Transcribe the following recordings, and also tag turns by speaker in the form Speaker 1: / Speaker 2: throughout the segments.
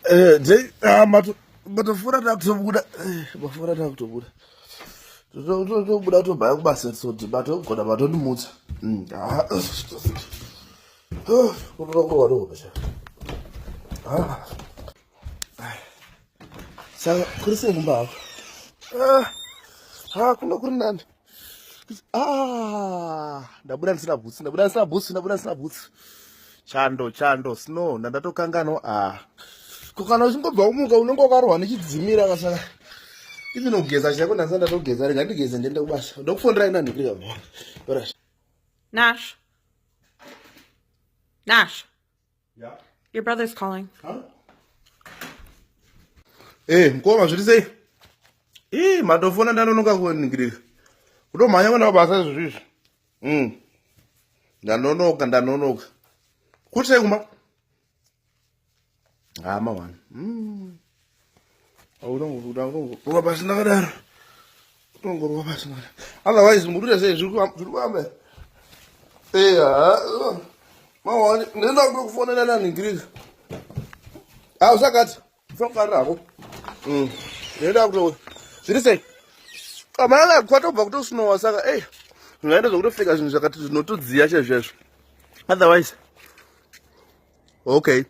Speaker 1: Eh, Jay, ah, mato, matofura takutobuda, eh, mafura takutobuda. Totobuda tobaya kubasa soti, matogona matondimutsa. Mm, ah, ah, kunokonga noko basha. Ah. Saka kuri sei kumba hako? Ah, ah, kuno kuri nani. ah ndabuda ndisina bhutsu ndabuda ndisina bhutsu ndabuda ndisina bhutsu chando chando snow ndandatokangano ah ko kana uchingobva umuka unenge wakarohwa nechidzimira kasaka even kugeza chako ndandisa ndatogeza rega ndigeze ndiende kubasa ndokufonderai nani kuri kavo nasho nasho Yeah. Your brother's calling. Huh? Hey, eh, mkoma zviri sei? Ii, madofona ndanonoka kuningirika. Kutomhanya kwenda basa izvo zvizvi. Mm. Ndanonoka, ndanonoka. Kuti sei kumba? Hama ah, wani. Mm. utongoruva pasi ndakadaro utongoruva pasi ndakadaro otherwise muruta sei zviri kuamba eya mawani ndinoenda kuda kufonera naningirika ausakati ufangarira hako mm. ndinoenda kuto zviri sei amalala kwatobva kutosinowa saka ei zvingaenda zvokutofika zvinhu zvakati zvinotodziya chezvezvo otherwise okay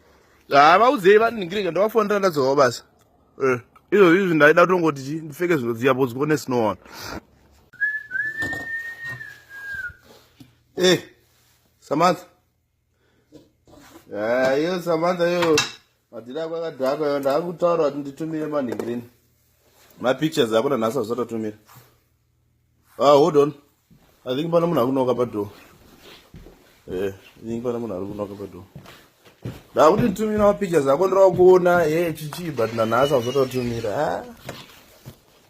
Speaker 1: ah vaudzei vaningireka ndawafonera ndadzovawo basa eh, izvo izvi ndaida kutongoti chi ndipfeke zvinhu dziya bhozi kuone sinoona e samantha eh, iyo samantha iyo madhiri ako akadhakwa iyo ndaakutaura kuti nditumire manhingirini mapictures akona nhasi azvatotumira Ah, hold on. I think pana munhu akunoka padoor. Eh, I think pana munhu arikunoka padoor. Da kuti tumira ma pictures ako ndira kuona eh chichi but na nasa uzoto tumira. Ah.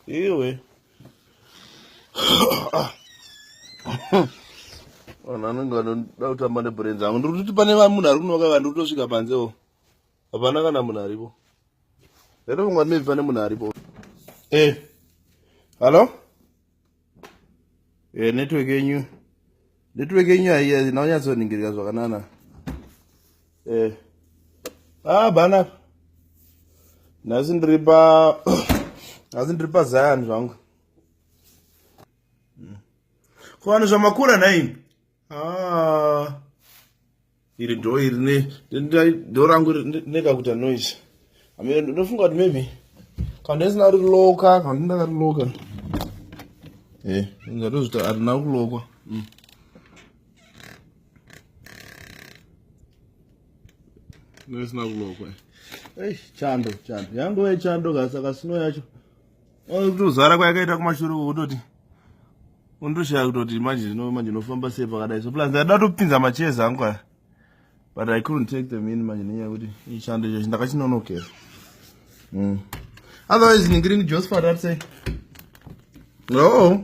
Speaker 1: Iwe. Ah. Ona nanga ndo da utamba ne brains angu. Ndiri kuti pane munhu arikunoka vanhu utosvika panze o. Oh. hapana kana munhu aripo here vangwa maybe pane munhu aripo e eh. hallo e eh, network yenyu network yenyu haiya naunyatsoningirika zvakanana e eh. ah bana nhasi ndiri pa nhasi ndiri pazion zvangu hmm. ko vanhu zvamakura nhaimi ah. iri do iri ne do rangu nekakuita noise amene ndofunga kuti maybe kana ndisina ri loka kana ndinaka ri loka e eh, ndatozvita arina kulokwa mm. ndisina kulokwa ei chando chando yangove chando kasaka sino yacho kutozara kwayakaita kumashure uko kutoti undoshaya kutoti manje zvino manje ndinofamba sei pakadai so plus ndaida topinza macheza angu aya but i couldn't take them in manje nenyaya yekuti ichando chacho ndakachinonokera mm. otherwise ndingiri ndi josephat atsei no